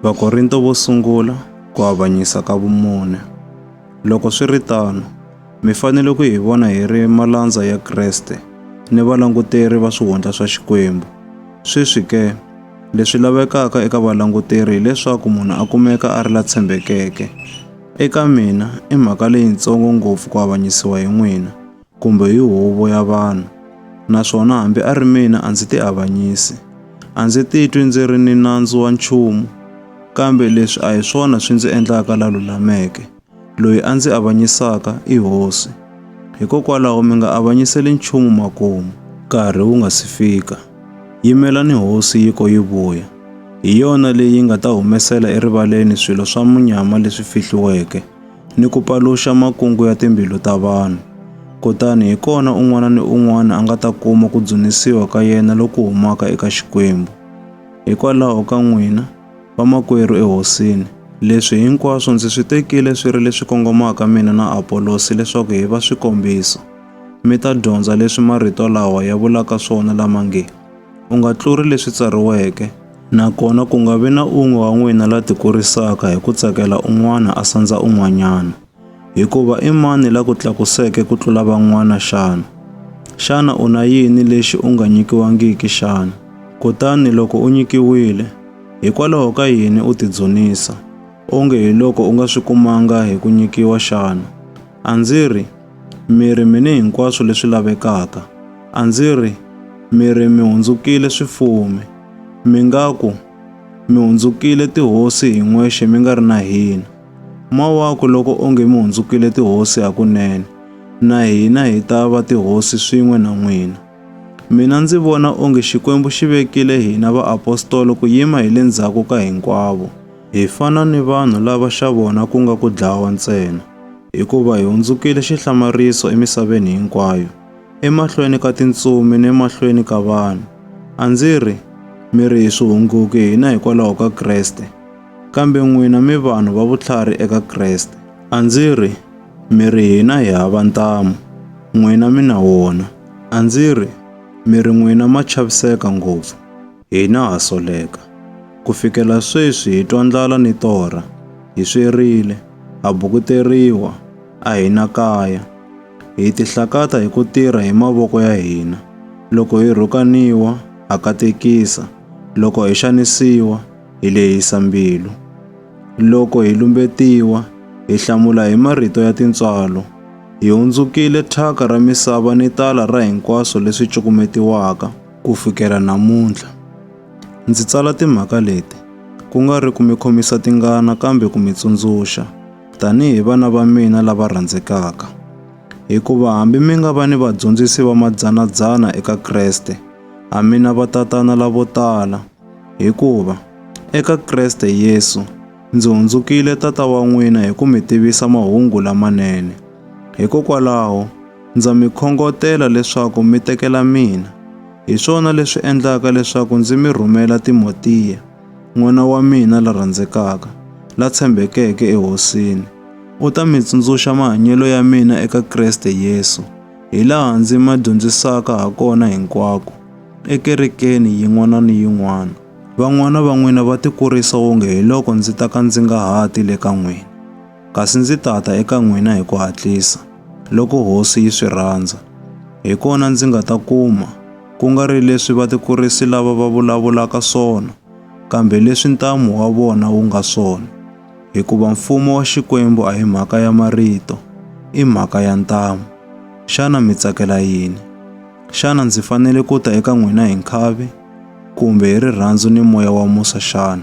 Vakorinto vo sungula ku avanyisa ka vumune. Loko swi ri tano, mi fanele ku hi vona hi ri malandza ya Kreste ni valanguteri va swihundla swa Xikwembu. Sweswi ke, leswi lavekaka eka valanguteri hileswaku munhu a kumeka a ri la tshembekeke. Eka mina, i mhaka leyintsongo ngopfu ku avanyisiwa hi n'wina. kumbe hi huvo ya vanhu, naswona hambi a ri mina a ndzi tiavanyisi. A ndzi titwi ndzi ri ni nandzu wa nchumu, kambe leswi a hi swona swi ndzi endlaka la lulameke. Loyi a ndzi avanyisaka i Hosi. Hikokwalaho mi nga avanyiseli nchumu makumu. Nkarhi wu nga si fika, yimelani Hosi yi ko yi vuya, hi yona leyi yi nga ta humesela erivaleni swilo swa munyama leswi fihliweke, ni ku paluxa makungu ya timbilu ta vanhu. Kutani hi kona un'wana ni un'wana a nga ta kuma ku dzunisiwa ka yena loku humaka eka Xikwembu. Hikwalaho ka n'wina, vamakwerhu eHosini, leswi hinkwaswo ndzi swi tekile swi ri leswi kongomaka mina na Apolosi leswaku hi va swikombiso, mi ta dyondza leswi marito lawa ya vulaka swona lama nge, U nga tluri leswi tsariweke, nakona ku nga vi na un'we wa n'wina la tikurisaka hi ku tsakela un'wana a sandza un'wanyana. Hikuva i mani la ku tlakuseke ku tlula van'wana xana? Xana u na yini lexi u nga nyikiwangiki xana? Kutani loko u nyikiwile, hikwalaho ka yini u tidzunisa, onge hiloko u nga swi kumanga hi ku nyikiwa xana? A ndzi ri, Mi ri mi ni hinkwaswo leswi lavekaka. A ndzi ri, Mi ri mi hundzukile swifumi. Mi nga ku, Mi hundzukile tihosi hi n'wexe mi nga ri na hina. Mawaku loko onge mi hundzukile tihosi hakunene, na hina hi ta va tihosi swin'we na n'wina. Mina ndzi vona onge Xikwembu xi vekile hina vaapostolo ku yima hi le ndzhaku ka hinkwavo. Hi fana ni vanhu lava xa vona ku nga ku dlawa ntsena, hikuva hi hundzukile xihlamariso emisaveni hinkwayo, emahlweni ka tintsumi ni emahlweni ka vanhu. A ndzi ri, Mi ri hi swihunguki hina hikwalaho ka Kreste, kambe n'wina mi vanhu va vutlhari eka Kreste. A ndzi ri, Mi ri hina hi hava ntamu, n'wina mi na wona. A ndzi ri, Mi ri n'wina ma chaviseka ngopfu. Hina ha soleka. Ku fikela sweswi hi twa ndlala ni torha. Hi swerile. Ha bukuteriwa. A hi na kaya. Hi tihlakata hi ku tirha hi mavoko ya hina. Loko hi rhukaniwa, ha katekisa. Loko hi xanisiwa, hi lehisa mbilu. Loko hi lumbetiwa, hi hlamula hi marito ya tintswalo. Hi hundzukile thyaka ra misava ni tala ra hinkwaswo leswi cukumetiwaka. Ku fikela namuntlha, ndzi tsala timhaka leti ku nga ri ku mi khomisa tingana kambe ku mi tsundzuxa tanihi vana va mina lava rhandzekaka. Hikuva hambi mi nga va ni vadyondzisi va madzana-dzana eka Kreste, a mi na vatatana lavo tala. Hikuva eka Kreste Yesu ndzi hundzukile tata wa n'wina hi ku mi tivisa mahungu lamanene. Hikokwalaho, Ndza mi khongotela leswaku mi tekela mina. Hi swona leswi endlaka leswaku ndzi mi rhumela Timotiya, n'wana wa mina la rhandzekaka, la tshembekeke eHosini. U ta mi tsundzuxa mahanyelo ya mina eka Kreste Yesu, hi laha ndzi ma dyondzisaka ha kona hinkwako, ekerekeni yin'wana ni yin'wana. Van'wana va n'wina va tikurisa wonge hiloko ndzi ta ka ndzi nga ha ti le ka n'wina. Kasi ndzi ta ta eka n'wina hi ku hatlisa, loko Hosi yi swi rhandza. Hi kona ndzi nga ta kuma, ku nga ri leswi vatikurisi lava va vulavulaka swona, kambe leswi ntamu wa vona wu nga swona. Hikuva Mfumo wa Xikwembu a hi mhaka ya marito, i mhaka ya ntamu. Xana mi tsakela yini? Xana ndzi fanele ku ta eka n'wina hi nkhavi, kumbe hi rirhandzu ni moya wa musa xana?